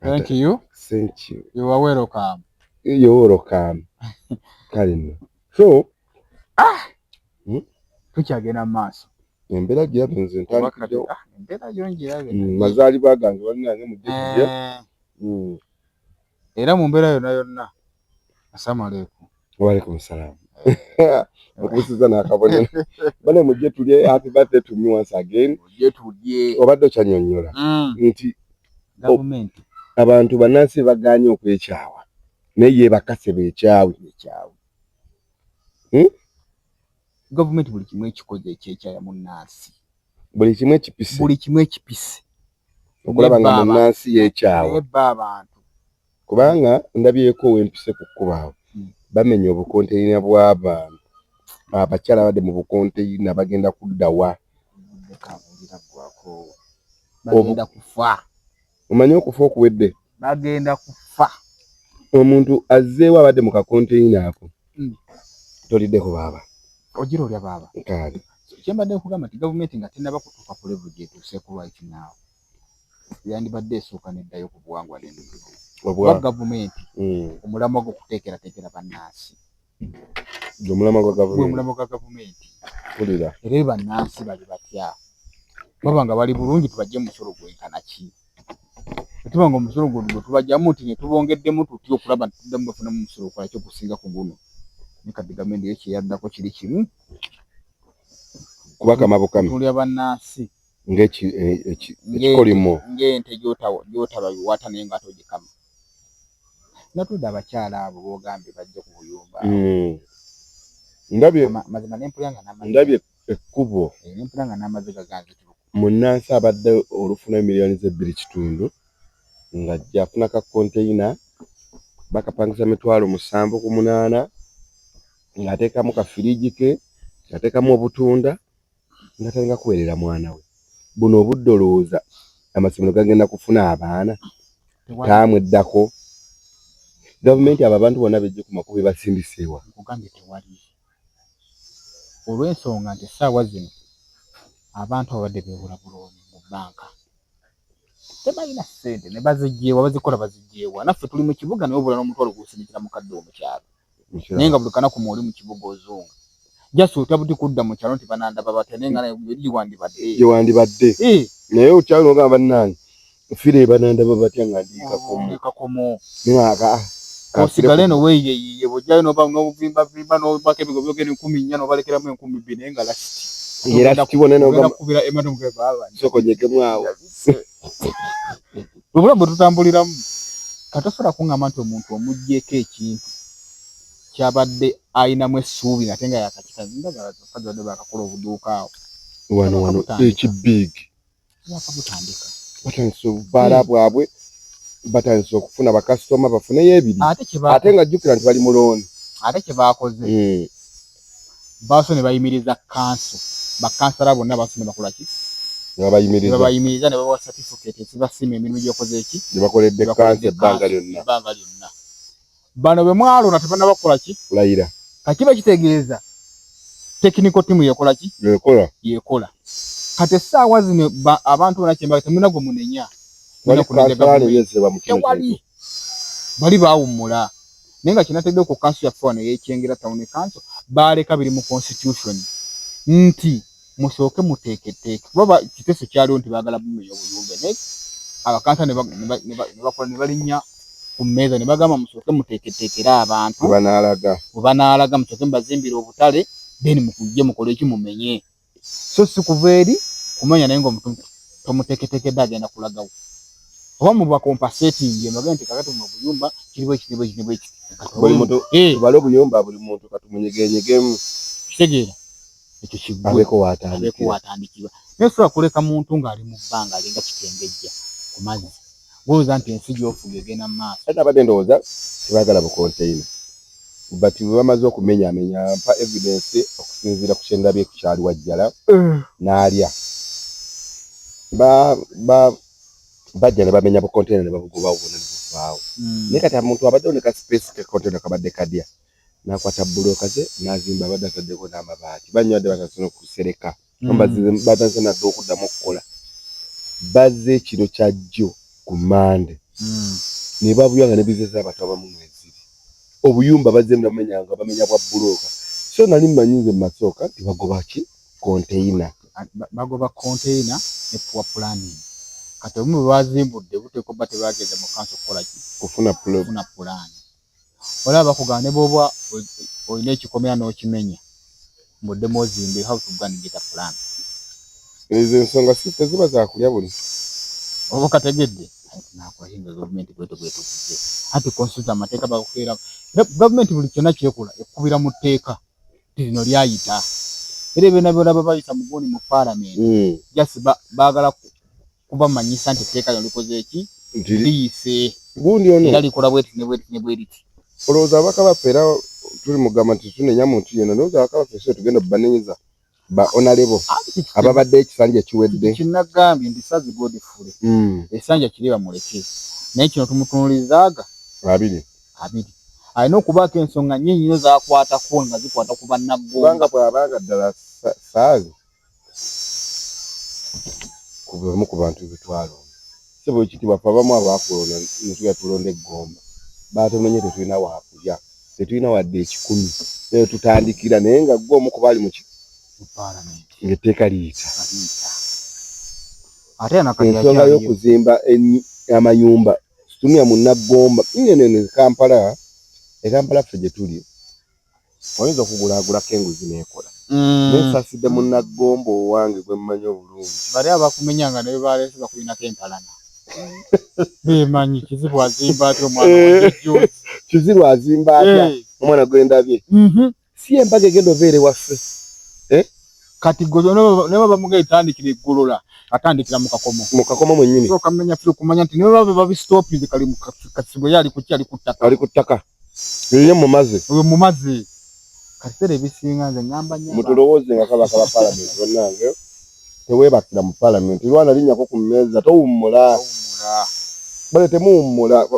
Thank you. Thank you. You are welcome. You are welcome. Kale no. So ah hmm? tukyagenda maaso. Embera gya benze ntandikyo. Ah, embera yo njirabe. Mm, mazali bagange bali nange mu dikje. Eh. Mm. Era mu mbera yona yona. Asalamu alaykum. Waalaikum salaam. Mukubusiza n'akabonero. Bane mujje tulye happy birthday to me once again. Mujje tulye. Obadde okyanyonnyola mm. nti gavumenti abantu bannansi bagaanye okwekyawa naye ye bakase bekyawe ekyawe hmm? gavumenti buli kimu ekikoze ekyekyaya munnansi buli kimu ekipise buli kimu ekipise okulaba nga munnansi yekyawa ebba abantu kubanga ndabyeko wempise ku kkubo awo hmm. bamenya obukonteyina bw'abantu abakyala abadde mu bukonteyina bagenda kuddawa bagenda kufa omanyi okufa okuwedde bagenda kufa omuntu azzeewo abadde mu kakonteyina ako hmm. toliddeko baaba ogira olya baaba kale kyembadde nkugamba nti gavumenti nga tenaba kutuuka ku levu gyetuuse ku lwaki naawe yandibadde esooka neddayo ku buwangwa n'ennono oba gavumenti hmm. omulamwa gwo kuteekerateekera bannansi omulamwa gwa gavumenti kulira era e bannansi bali batya baba nga bali bulungi tubajje musolo gwenkana ki etuba nga omusolo gwe gwe tubajjamu nti ne tubongeddemu tutya okulaba nti tuddamu bafunamu omusolo okwalaki okusinga ku guno ne kati gavumenti yo kyeyaddako kiri kimu kubakama bukami tulya bannansi ng'ekikolimo e, ng'ente gyotababiwata naye nga togikama natude abakyala abo bogambye bajje ku buyumba hmm. mazima nempulira nga ndabye ekkubo eh, nempulira nga n'amaziga gange munnansi abadde olufuna emiliyoni z'ebbiri kitundu nga gyafuna ka konteyina bakapangisa mitwalo musanvu ku munaana ng'ateekamu kafiriji ke ng'ateekamu obutunda nga talinga kuweerera mwana we buno obudde olowooza amasomero gagenda kufuna abaana taamweddako gavumenti abo abantu bonna bejje ku makubo ebasindiseewa nkugambye tewali olw'ensonga nti essaawa zino abantu ababadde beewula bulooni mu bbanka tebalina ssente ne bazijjeewa bazikola bazijjeewa naffe tuli mu kibuga naye obula n'omutwalo gusinzira mukadde omukyalo naye nga buli kanaku mwoli mu kibuga ozunga just otya buti kudda mu kyalo nti banandaba batya naye nga giwandibadde giwandibadde eh. naye okyalo ogamba bannange fire banandaba batya nga ndikakomo oh, osigale no weyeyiye bojayo noba nobuvimba vimba nobaka ebigo byogera enkumi nnya nobalekeramu enkumi bbiri naye nga lasiti era kibonenokubira ematomugebaaba sokonyekemu awo obulamu bwe tutambuliramu katosobola kuŋŋamba nti omuntu omugyeko ekintu kyabadde ayinamu essuubi ngate nga yakakitaaaade bakakola obuduuka awo wano wano ekibig yakamutandika batandise obubaala eh. bwabwe batandise okufuna bakasitoma bafuneyo ebiri ate nga jjukira nti bali mulooni ate kyebakoze eh. Baasoose ne bayimiriza kkanso, bakkansala bonna baasoose ne bakola ki? Ne babayimiriza. Ne babayimiriza ne babawa satifikeeti ezibasiima emirimu gye bakoze ki? Gye bakoledde kkanso ebbanga lyonna. Ebbanga lyonna. Bano be mwalonda tebannaba kukola ki? Kulayira. Ka kiba kitegeeza tekiniko ttiimu yekola ki? Yekola. Yekola. Kati essaawa zino abantu bona kyembaga temulina gwe munenya. Tewali kkansola ne yeeseba mu kino kintu. bali baawummula naye nga kyenategeddeko ku kanso yaffe wano eyekyengera tawuni kanso baaleka biri mu constitution nti musooke muteeketeeke kuba kiteeso kyaliwo nti baagala bumeya obuyumbe naye abakansa nebakola nebalinnya ku mmeeza ne bagamba musooke muteeketeekere abantu webanaalaga musooke mubazimbire obutale then mukujje mukole eki mumenye so si kuva eri kumanya naye ngaomuntu tomuteketekedde agenda kulagawo oba mubakompasetingi mbage nti kakati mu obuyumba kiriwo ekiriwo ekiriwo ekitubale eh. obuyumba buli muntu katumunyegenyegemu kitegeera ekyo kigweko watandikibwa naye sobola kuleka muntu ng'ali mu bbanga alinga kitengejja ku mazzi Gwolowooza nti ensi gy'ofuga egenda mu maaso? Kati nabadde ndowooza tebaagala bukonteyina but bwe bamaze okumenyaamenya mpa evidence okusinziira ku kye ndabye ku kyali Wajjala n'alya ba ba bajja ne bamenya bukonteyina ne babugobawo bwonna ne buvaawo naye kati omuntu abaddewo ne ka space ke konteyina kabadde kadya n'akwata bbulooka ze n'azimba abadde ataddeko n'amabaati banywade basasula okusereka. ambazize hmm. batanse nadde okuddamu okukola bazze ekiro kya jjo ku mande hmm. ne babuya nga ne bizinesi abantu abamu mweziri obuyumba bazze mumenya nga bamenya bwa bulooka so nali mmanyi nze masooka nti bagoba ki konteyina ah, bagoba konteyina ne puwa pulaningi kati obumu bwebazimbudde buteekwa ba tebagenda mu kansi okukola ki kufuna pulaani Olaba bakugamba ne bwoba olina ekikomera n'okimenya mbu oddemu ozimbe you have to go and get a plan. Ezo ensonga si teziba za kulya buli. Oba okategedde nakuhinga gavumenti bwetyo bwetukuze anti konstitution amateeka bakukeera gavumenti buli kyonna kyekola ekukubira mu tteeka lino lyayita era ebyona byona babayisa muguni mu palamenti mm. just baagala kubamanyisa nti etteeka lino likoze eki liyise era likola bweti ne bweriti olowooza abaka baffe era tuli mugamba nti tunenya muntu yena olowooza abaka baffe so tugenda banenyeza ba onalebo ababadde ekisanja ekiwedde kinagambye nti sazi godfule hmm. esanja kiri bamuleke naye kino tumutunulirizaaga abiri abiri alina okubaako ensonga nyinyi nyo zakwatako nga zikwata ku bannaggombanga bwabanga ddala saazi ku bamu ku bantu betwalonda sebo ekitibwa fe abamu abakulonda netuga tulonda eggomba batumenye tetulina wakulya tetulina wadde ekikumi naye tutandikira naye nga gwe omu kubaali muki ngaetteeka liyita ensonga y'okuzimba amayumba situnia munaggomba ngenene kampala ekampala ffe gyetuli Oyinza okugulaagulako enguzi n'ekola. Naye nsaasidde munna Gomba owange gwe mmanyi obulungi. Bali abakumenya nga ne bwe baleese bakulinako empalana. Beemanyi, Kizibu azimba atya omwana owa Jjunju? Kizibu azimba atya omwana gwe ndabye? Si y'embaga egenda obeera ewaffe? Kati gwe ne bwe bamugenda etandikira e Golola, atandikira mu Kakomo. Mu Kakomo mwennyini. Sooka menya ffi okumanya nti ne bwe baba babisitoopinze kali mu Kasibwe ye ali ku ki? Ali ku ttaka. Ali ku ttaka. Oyo mumaze. Oyo mumaze. Kasere bisinga nze ngamba nyama. Mutulowooze nga kaba kaba parliament bannange. Tewebakira mu parliament. Lwana linyako ku mmeeza towummula. Towummula. Bale temuwummula.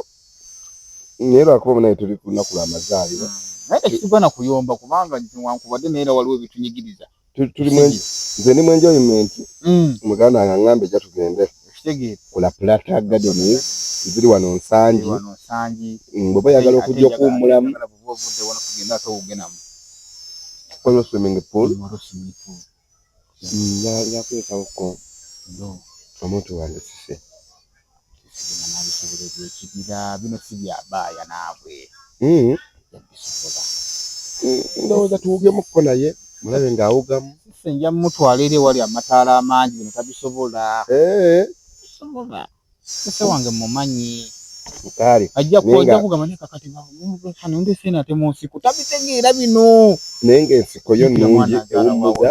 Naye lwakuba naye tuli ku lunaku lw'amazaalibwa. Naye tekigwana kuyomba kubanga nti wankubadde naye era waliwo ebitunyigiriza. tuli mwenji nze ni mwenji oyo menti mm. muganda nga ngambe ja tugende kula plata gadi ni ziri wano nsanji wano nsanji mm, baba ya galo kujia ku mula mu kala bubu vude wana kugenda to ugena mu kono swimming pool kono swimming pool mm, ya ya kuweka uko no omuntu wande sisi bino si bya baaya naabwe hmm. ndowooza tuwugemukko naye mulabe ng'awugamu se nja mumutwala era ewali amataala amangi bino tabisobola eh. sobola ese wange mumanyi kale ajja kuja kugamba ne kakati nga omuntu kano ndi sena te munsiku tabitegeera bino naye nga ensiko yo nungi ewummuza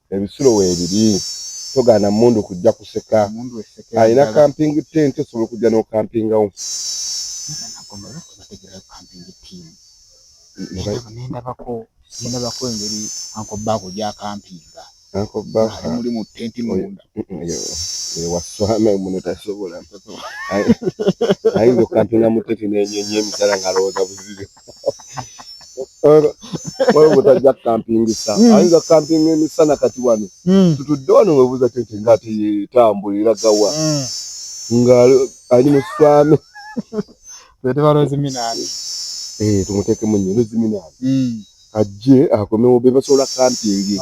Ebisulo weebiri, togaana mmundu kujja kuseka. Alina kampingi ttenti osobola okujja n'okampingawo. Ne ndabako ne ndabako engeri Uncle Baako gy'akampinga. Uncle Baako ali muli mu ttenti munda. Waswana muno tasobola. Ayinza okukampinga mu ttenti n'enyonyi emitala ng'alowooza buzibe. waliwo gwetajja kukampingisa hmm. ayinza kukampinga emisana kati wano hmm. tutudde wano webuuza tete nga ate yetambula era gawa hmm. nga ali mu swami eh, tumutekemu nyo loziminaani ajje akomewo bebasobola kampingi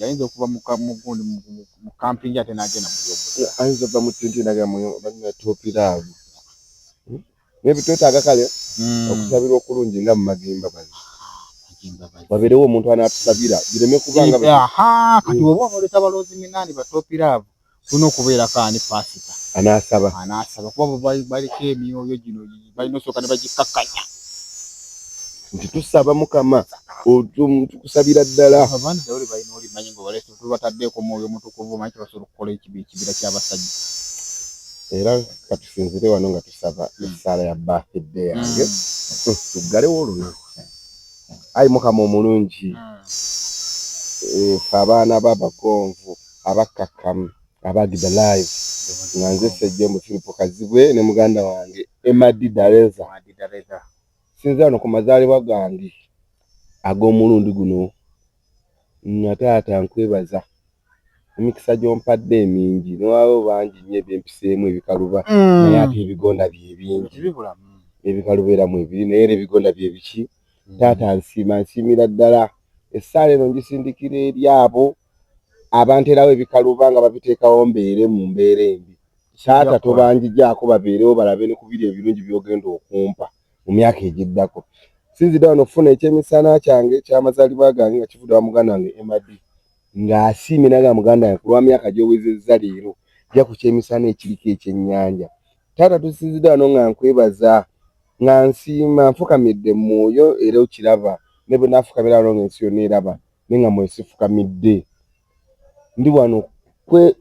ayinza okuva mugundi mu kampingi ate nagenda mu ayinza va mu tenti nagenda mu banatopiraavu naye twetaaga kale hmm. okusabirwa okulungi nga mu magimba bali wabeerewo omuntu anaatusabira bireme kubanga kati oba onooleta baloozi minaani batopiraavu tulina okubeerako ani paasita anaasaba anaasaba kuba baliko emyoyo gino balina osooka ne bagikkakkanya nti tusaba mukama tukusabira ddala tubataddeeko omwoyo omutukuvu omanyi kyebasobola okukola ekibi ekibira kyabasajja era katusinzire wano nga tusaba hmm. essaala ya bafidde yange hmm. tuggalewo olunaku ayi mukama omulungi hmm. fe abaana babagonvu abakkakkamu abagida live nga nze sejja omufiripo kazibwe ne muganda wange emadi dareza sinzira no ku mazaalibwa gange ag'omulundi guno Nnyina taata nkwebaza emikisa gy'ompadde emingi newaawo bangi nnyo ebyempiseemu ebikaluba naye ate ebigonda bye bingi n'ebikaluba era mwebiri naye era ebigonda bye biki taata nsiima nsiimira ddala essaala eno ngisindikira eri abo abanteerawo ebikaluba nga babiteekawo mbeere mu mbeera embi taata tobanjigyako babeerewo balabe ne ku biri ebirungi by'ogenda okumpa. mu myaka egiddako. Nsinzidde wano okufuna eky'emisana kyange eky'amazaalibwa gange nga kivudde wa muganda wange Emma Dee ng'asiimye naga muganda wange ku lwa myaka gy'owezezza leero ja ku ky'emisana ekiriko ekyennyanja. Taata tusinzidde wano nga nkwebaza nga nsiima nfukamidde mu mwoyo era okiraba ne bwe naafukamira wano ng'ensi yonna eraba naye nga mwoyo sifukamidde ndi wano kwe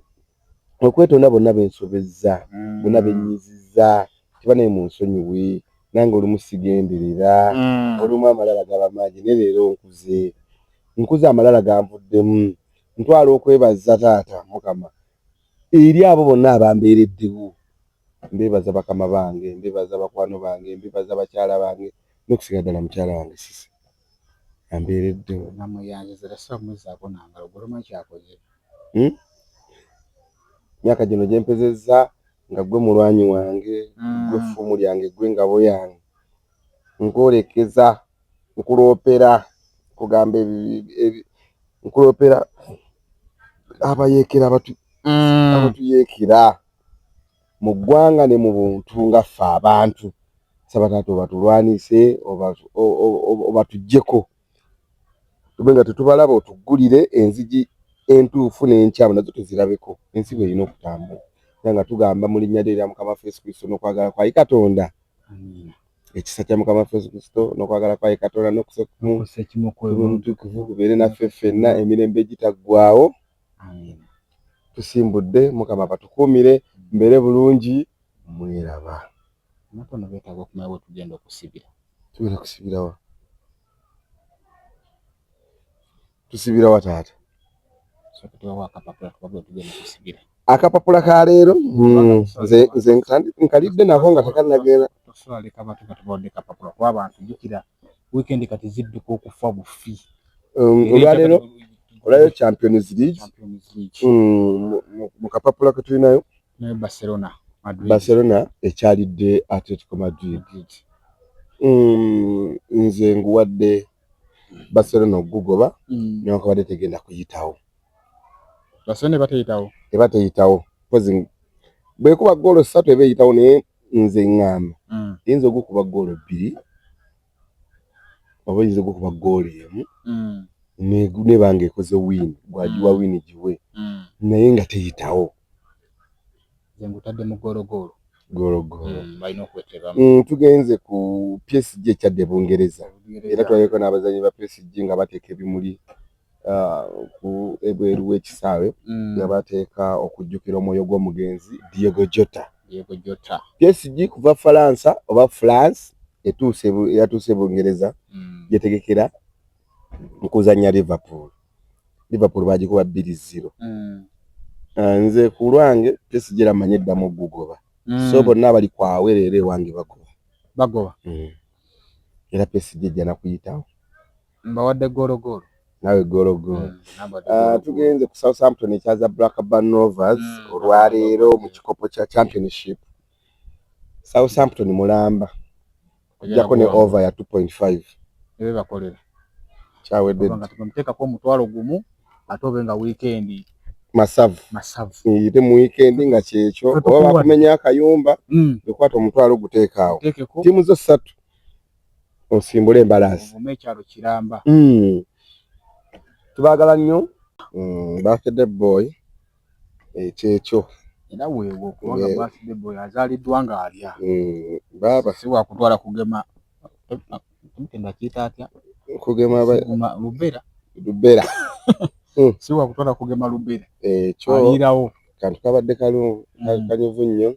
okwetonda bonna bensobezza mm. bonna benyiziza kiba naye munsonyiwe nange olumu sigenderera mm. olumu amalala gaba mangi ne leero nkuze nkuze amalala ganvuddemu ntwala okwebaza taata mukama eri abo bonna abambeereddewo mbebaza bakama bange mbebaza bakwano bange mbebaza bakyala bange nokusiga ddala mukyala wange sisi ambeeredde namuyanzizira sibamuzaako nangalo gwe tomanyi kyakoze hmm? myaka gino gyempezezza nga gwe mulwanyi wange hmm. gwe ffumu lyange gwe ngabo yange nkwolekeza nkuloopera kugamba nkuloopera abayeekera hmm. abatuyeekera mu ggwanga ne mu buntu nga ffe abantu saba taata obatulwanise obatujjeko tube nga tetubalaba otuggulire enzigi entuufu n'enkyamu nazo tuzirabeko ensi bwe erina okutambula era nga tugamba mu linnya lyo erya mukama fesu kristo n'okwagala kwayi katonda ekisa kya mukama fesu kristo n'okwagala kwayi katonda n'okusa omutukuvu kubeere naffe ffenna emirembe egitaggwawo tusimbudde mukama batukuumire mbeere bulungi mweraba natono betaaga okumanya bwetugenda okusibira tugenda kusibirawa tusibirawa taata akapapula ka leero hmm, nze nkalidde nako nga tekanagenda weekend kati zidduka okufa bufi um, olwaleero olayo champions league mm, mu kapapula ke tulinayo naye barcelona barcelona ekyalidde atletico madrid mm, nze nguwadde barcelona okugugoba mm. newakabadde tegenda kuyitawo barcelona ebateyitawo ebateyitawo bwekuba goolo satu eba eyitawo naye nze ŋŋamba mm. yinza ogukuba ggoolo bbiri oba yinza ogukuba ggoolo emu mm. neba nga ekoze wiini gwagiwa mm. wiini giwe mm. naye nga teyitawo nze ngutadde mu ggoologoolo ggoologoolo mm, balina okweteba mm, tugenze ku psg ekyadde bungereza era twaleko n'abazanyi ba psg nga bateeka ebimuli ku ebweru w'ekisaawe mm. nga bateeka okujjukira omwoyo gw'omugenzi Diego Jota. Diego Jota. PSG kuva Falansa oba France etuuse yatuuse Bungereza mm. yetegekera okuzannya Liverpool. Liverpool bagikuba bbiri zero. Mm. Ah, nze ku lwange PSG eramanyi eddamu okugugoba. Mm. So bonna abali kwawe leero ewange bagoba. Bagoba. Mm. Era PSG ejja nakuyitawo. mbawadde goolo goolo nawe goolo goolo mm, ah, tugenze ku southampton ekyaza blackburn rovers mm, olwaleero mu kikopo kya championship southampton mulamba okujjako ne over ya 2.5 ebe bakolera kyawedde teekako omutwalo gumu ate obe nga wiikendi masavu yite mu wiikendi nga kyekyo oba bakumenya akayumba mm. ekwata omutwalo oguteekaawo tiimu zo ssatu osimbule embalaasi mu ekyalo kiramba mm. tubagala nnyo mm, birthday boy ekyekyo era weewo kubanga yeah. birthday boy azaaliddwa nga alya mm, baaba si wakutwala kugema ndakiyita atya kugema lubera lubera hmm. si wakutwala kugema lubera ekyo ayirawo kantu kabadde kalu hmm. kanyuvu nnyo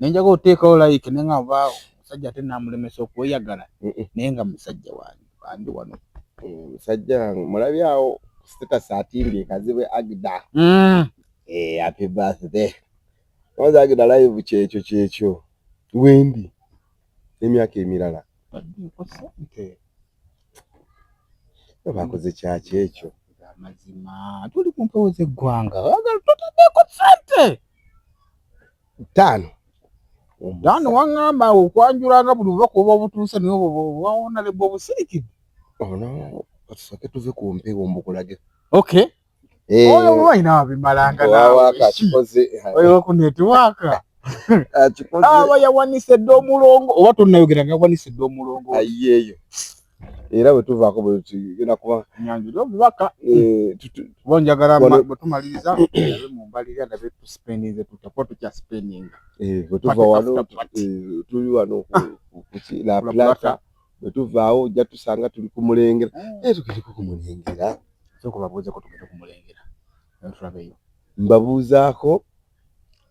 nenjaga oteekawo like naye nga oba omusajja ate namulemesa okweyagala eh, eh. naye nga musajja wange bandi wano eh, musajja wange mulabye awo status atimbye kazibwe agda mm. happy birthday oza agda live kyekyo kyekyo wendi emyaka emirala bakoze kyaki ekyo amazima tuli ku mpewo z'eggwanga totadeko sente ttaano ttaano waŋŋamba okwanjulanga buli bubaka oba obutuuse naye obwawona lebwa obusirikidde ono katusooke tuve ku mpewo mbukulage oky eh. oyo olwalina wabimalanga naweokunetiwaaka aba yawanise dda omulongo oba tonayogera nga yawanise dda omulongo ayeeyo era bwe tuvaako bwe tugenda kuba nyanjula obubaka eh, kuba njagala bwe tumaliriza abe mu mbalirira ndabe tusipendinze tutya kuba tukyasipendinga eh, bwe tuva wano eh, tuli wano kuki la plata bwe tuvaawo ojja tusanga tuli ku mulengera hmm. naye tugende ku mulengera sooka babuuze ko tugende ku mulengera tulabeyo mbabuuzaako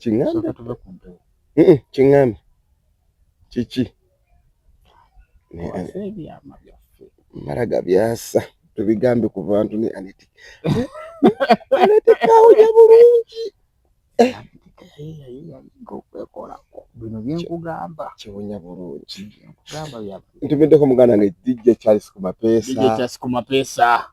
kiŋŋambe kiŋŋambe kiki mara gabyasa tubigambe ku bantu ne aneti aneti kawunya bulungi eh. okwekolako bino byenkugamba kiwunya bulungi ntumiddeko muganda nge dj charles kumapeesa dj charles kumapeesa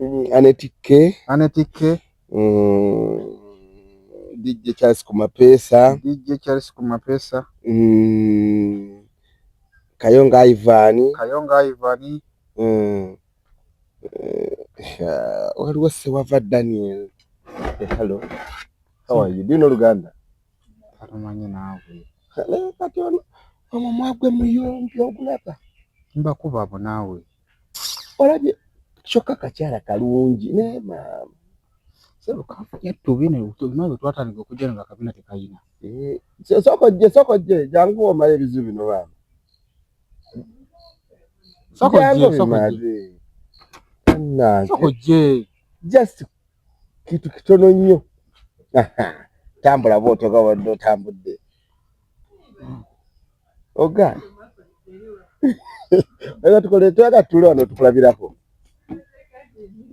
Mm, Aneti K. Aneti K. Mm, DJ Charles Kumapesa. DJ Charles Kumapesa. Mm, Kayonga Ivan. Kayonga Ivan. Mm, uh, waliwo Sewava Daniel. Hey, eh, hello. How are you? Do you know Luganda? Katumanyi naawe. Hello, kati ono. Omu mwagwe muyombi ogulaba. Mbakuba abo naawe. olabye kyokka kakyala kalungi naye maama twatandika okujja nga kabina tekayina eh, sokojje sokojje jangu omala ebizibu bino baama sokojje just kitu kitono nnyo tambula bwotoga wadde otambudde oga era tukole twala tule wano tukulabirako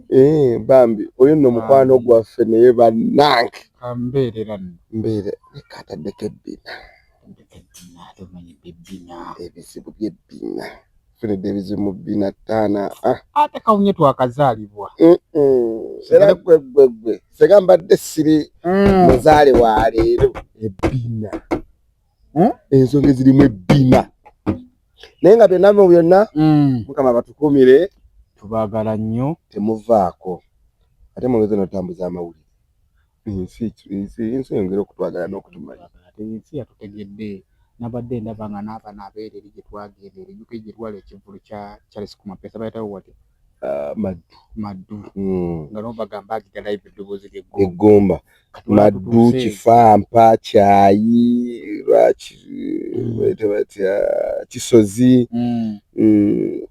eh bambi oyo nno mukwano gwaffe naye banange ambeerera mbeere ekataddeko ebbina ebizibu by'ebbina Fred ebizimu bina tana ah ate kawunye twakazalibwa mm -mm. era gwe gwe gwe sega mbadde siri mm. muzale wa leero ebina hmm? ensonga ezirimu ebina naye nga byonna mu byonna mm. mukama batukumire tubagala nnyo temuvaako ate mwongeze notambuza amawulire Ensi ensi ensi eyongere okutwagala n'okutumanya. Ensi yatutegedde nabadde ndaba nga n'abana abeera eri gye twagenda eri UK gye twali ekivvulu kya Charles Kumapesa bayitawo watya ah, maddu maddu hmm. nga nabo bagamba agita live eddoboozi ly'eggomba maddu kifampa kyayi lwaki hmm. bayita batya kisozi hmm.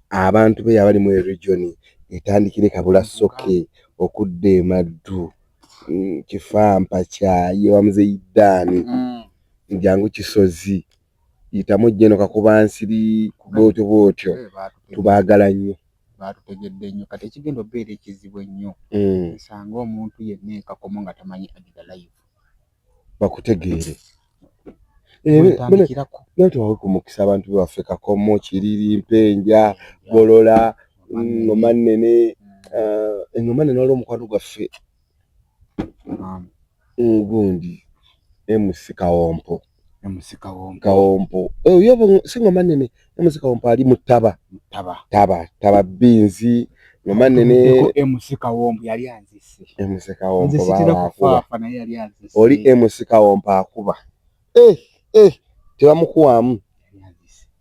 abantu be yabali mu eregioni etandikire kabula soke okudda emaddu Mm, kifampa kyaye wamuzeyi dani mm. njangu kisozi yitamu jeno kakuba nsiri bwotyo bwotyo eh, tubagala nnyo batutegedde nnyo kati ekigenda obeera ekizibu ennyo mm. nsanga omuntu yenna ekakomo nga tamanyi agida live bakutegeere naye tewawe ku mukisa abantu baffe kakomo kiriri mpenja golola ngoma nnene eh, engoma nnene waliwo omukwano gwaffe ngundi emusi kawompo kawompo eh, oyo singoma nnene MC Kawompo ali mu ttaba ttaba ttaba ttaba binzi nomane ne MC Kawompo yali anzise MC Kawompo baakuba naye yali anzise oli MC Kawompo akuba eh eh tebamukuwamu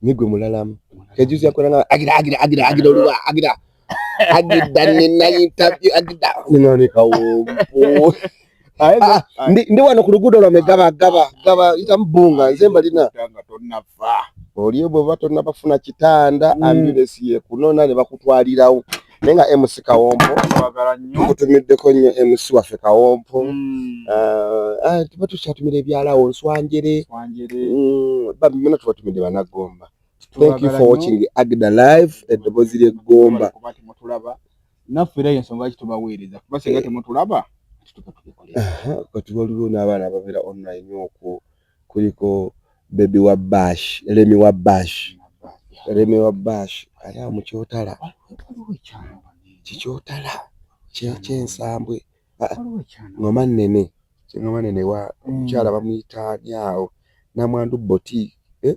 nigwe mulalamu kejuzi yakolanga agira agira agira agira oluwa agira agidda nina interview agidda nina ni kawompo ah, ndi ndi wano ku luguudo lwa megaba gaba gaba ita mbunga nze mba lina tanga tonna fa olio bwe bato nabafuna kitanda mm. ambulance ye kunona ne bakutwalirawo naye nga mc kawompo tukutumiddeko nnyo mc waffe kawompo mm. ah, ah, tuba tukyatumira ebyalawo nswanjere mm, bamina tubatumidde banagomba Thank you for watching Agda Live eddobozi ly'eggomba. Naffe era y'ensonga lwaki tubaweereza kuba singa eh. temutulaba kati waliwo n'abaana ababeera online okwo kuliko bebi wa bash lemi wa bash lemi wa bash ali awo mukyotala kikyotala kyensambwe ah, ngoma nene ngoma nene wa mm. mukyala bamuyita nyawo namwandu boti eh?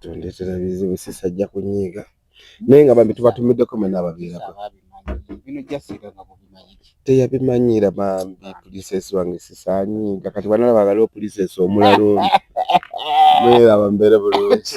tondeetera bizibu sisi ajja kunyiiga naye nga bambi tubatumiddeko mwena ababeerako teyabimanyira bambi pulisesi wange sisi anyiiga kati banalaba waliwo pulisesi omulala omu naye abambeere bulungi